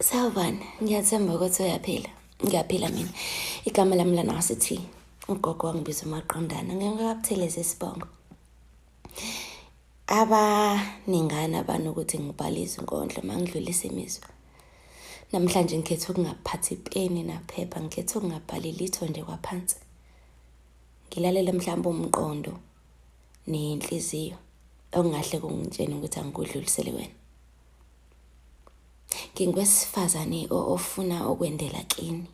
Sawubona, ngiyathemba ukuthi uyaphila. Ngiyaphila mina. Igama lami lana wasithi ugogo wangibiza umaqondana ngingakabuthelezi isibongo. Abaningana abantu ukuthi ngibhale izinkondlo mangidlulisa imizwa. Namhlanje ngikhethe ukungaphathi ipeni naphepha, ngikhethe ukungabhali litho nje kwaphansi. Ngilalele mhlawumbe umqondo nenhliziyo okungahle kungitshene ukuthi angikudlulisele wena. Ngingwesifazane ofuna ukwendela kini.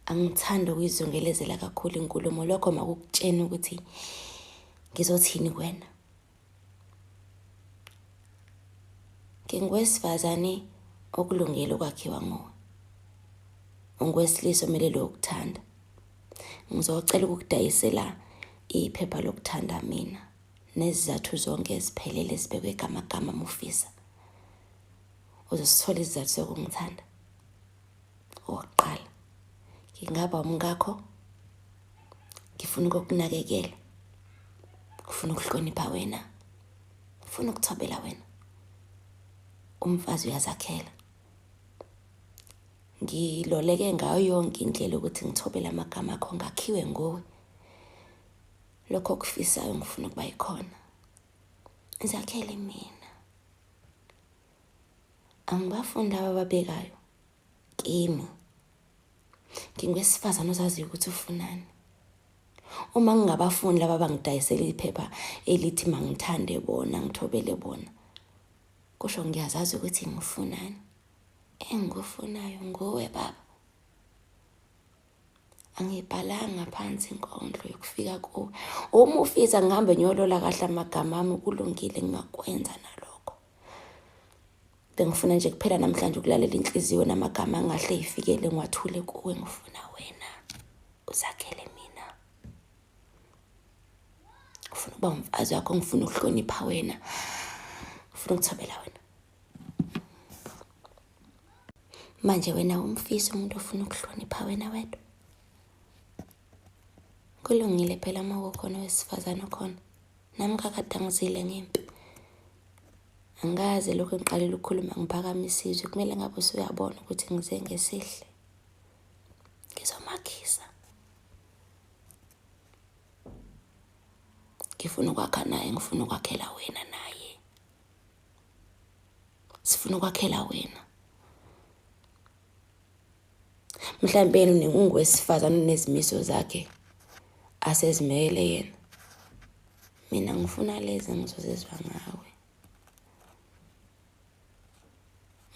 Angithandi ukuyizungelezela kakhulu inkulumo lokho makukutshena ukuthi ngizothini kwena. Ngingwesifazane okulungele ukwakhiwa nguwe. Ungwesilisa omelele ukuthanda. Ngizocela ukukudayisela iphepha lokuthanda mina. nezizathu zonke eziphelele ezibekwe gamagama mufisa uzosithola izizathu zokungithanda okokuqala ngingaba umkakho ngifuna ukukunakekela ngifuna ukuhlonipha wena ngifuna ukuthobela wena umfazi uyazakhela ngiloleke ngayo yonke indlela ukuthi ngithobele amagama akho ngakhiwe nguwe lokho okufisayo ngifuna ukuba yikhona zakhele mina angibafundi aba babekayo kimi ngingwesifazane ozaziyo ukuthi ufunani uma ngingabafundi laba bangidayisela iphepha elithi mangithande bona ngithobele bona kusho ngiyazazi ukuthi ngifunani engikufunayo nguwe baba angibhalanga phansi inkondlo yokufika kuwe uma ufisa ngihambe ngiyolola kahle amagama ami kulungile ngingakwenza nalokho bengifuna nje kuphela namhlanje ukulalela inhliziyo namagama angahle yifikele ngiwathule kuwe ngifuna wena uzakhele mina ngifuna ukuba umfazi wakho ngifuna ukuhlonipha wena ngifuna ukuthobela wena manje wena umfisa umuntu ofuna ukuhlonipha wena wedwa kulungile phela uma kukhona owesifazane okhona nami kakadanguzile ngempi angikaze lokhu ngiqalile ukukhuluma ngiphakama isizwe kumele ngabe usuyabona ukuthi ngize ngesihle ngizomakhisa ngifuna ukwakha naye ngifuna ukwakhela wena naye sifuna ukwakhela wena mhlawumbe yena unengungu wesifazane unezimiso zakhe asezimele yena mina ngifuna lezi ngizozizwa ngawe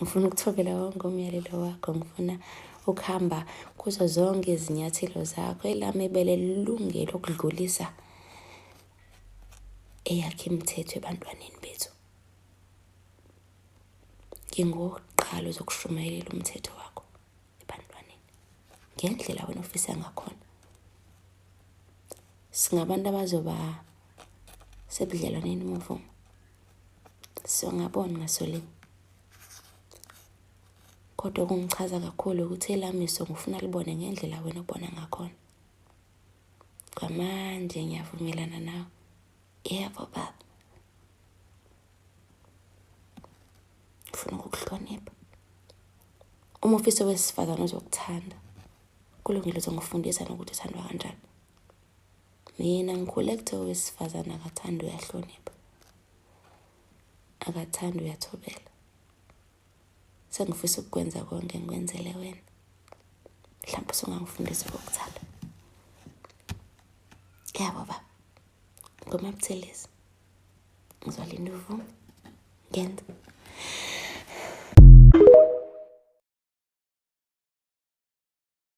ngifuna ukuthobela wonke umyalelo wakho ngifuna ukuhamba kuzo zonke izinyathelo zakho elami ibele lilungele ukudlulisa eyakhe imithetho ebantwaneni bethu. Ngingowokuqala ozokushumayela umthetho wakho ebantwaneni ngendlela wena ofisa ngakhona. Singabantu abazoba sebudlelwaneni umuvumo. Siyongabona ngasolinye. Kodwa okungichaza kakhulu ukuthi elami iso ngifuna libone ngendlela wena obona ngakhona. kwamanje ngiyavumelana nawe yebo baba ufuna ukukuhlonipha uma ufisa wesifazane uzokuthanda kulungile uzongifundisa nokuthi uthandwa kanjani mina ngikhule kuthe owesifazane akathanda uyahlonipha akathanda uyathobela Sengifisa ukukwenza konke ngikwenzele wena. Mhlawumbe usungangifundisa ukuthanda. Yabo baba. Ngoma Buthelezi. Ngizolinda uvume. Ngenza.